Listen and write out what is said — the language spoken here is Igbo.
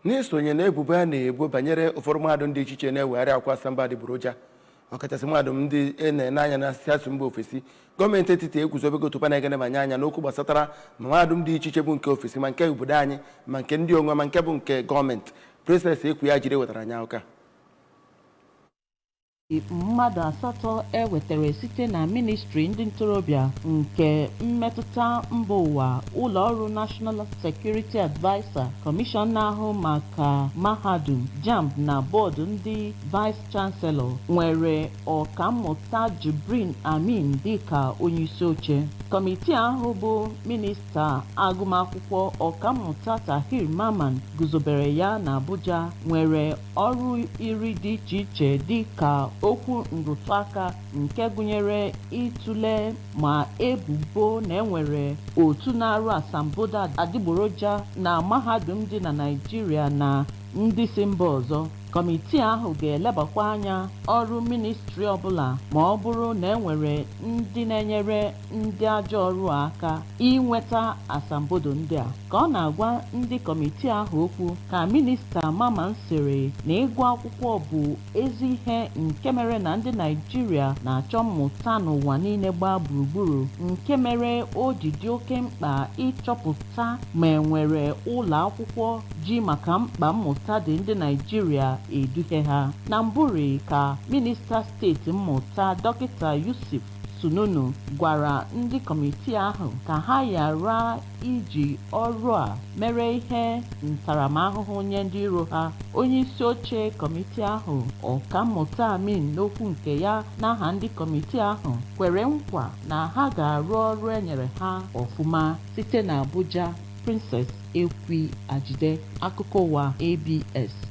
n'isonye na ebubo a na-ebo banyere ụfọdụ mahadum dị iche iche na-ewegharị akwụkwọ asambodo adịgboroja ọkachasị mahadum ndị a na-ene anya na si esi mba ofesi gọọmenti etiti eguzobego otu panel ga-enebanye anya n'okwu gbasatara ma mahadum dị iche iche bụ nke ofesi ma nke obodo anyị ma nke ndị onwe ma nke bụ nke gọọmenti Princess Ekwi Ajide wetara anyị akụkọ a. mmadụ asatọ e wetara site na ministri ndị ntorobịa nke mmetụta mba ụwa ụlọ ọrụ National Security Adviser kọmishọn na-ahụ maka mahadum JAMB na bọọdụ ndị vice chancellor nwere ọkammụta Jibrin Amin dịka onyeisi oche kọmitii ahụ bụ minista agụmakwụkwọ ọkammụta Tahir Mamman guzobere ya na Abuja nwere Ọrụ iri dị iche iche dị ka okwu nrụtụaka nke gụnyere ịtụle ma ebubo na e nwere otu na-arụ asambodo adịgboroja na mahadum dị na Naịjirịa na ndị si mba ọzọ. Kọmitii ahụ ga-elebakwa anya ọrụ ministri ọbụla ma ọ bụrụ na e nwere ndị na-enyere ndị ajọ ọrụ a aka inweta asambodo ndị a ka ọ na-agwa ndị kọmitii ahụ okwu ka minista Mamman sịrị na ịgụ akwụkwọ bụ ezi ihe nke mere na ndị Naịjirịa na-achọ mmụta n'ụwa niile gbaa gburugburu nke mere o ji dị oke mkpa ịchọpụta ma enwere ụlọ akwụkwọ ji maka mkpa mmụta dị ndị Naịjirịa eduhe ha na mbụrị ka minista steeti mmụta dọkịta Yusuf Sununu gwara ndị kọmitii ahụ ka ha ghara iji ọrụ a mere ihe ntaramahụhụ nye ndị iro ha. Onyeisi oche kọmitii ahụ, Ọkammụta Amin n'okwu nke ya n'aha ndị kọmitii ahụ kwere nkwa na ha ga-arụ ọrụ e nyere ha ọfụma. Site n'Abuja, Princess Ekwi Ajide, Akụkọ Ụwa, ABS.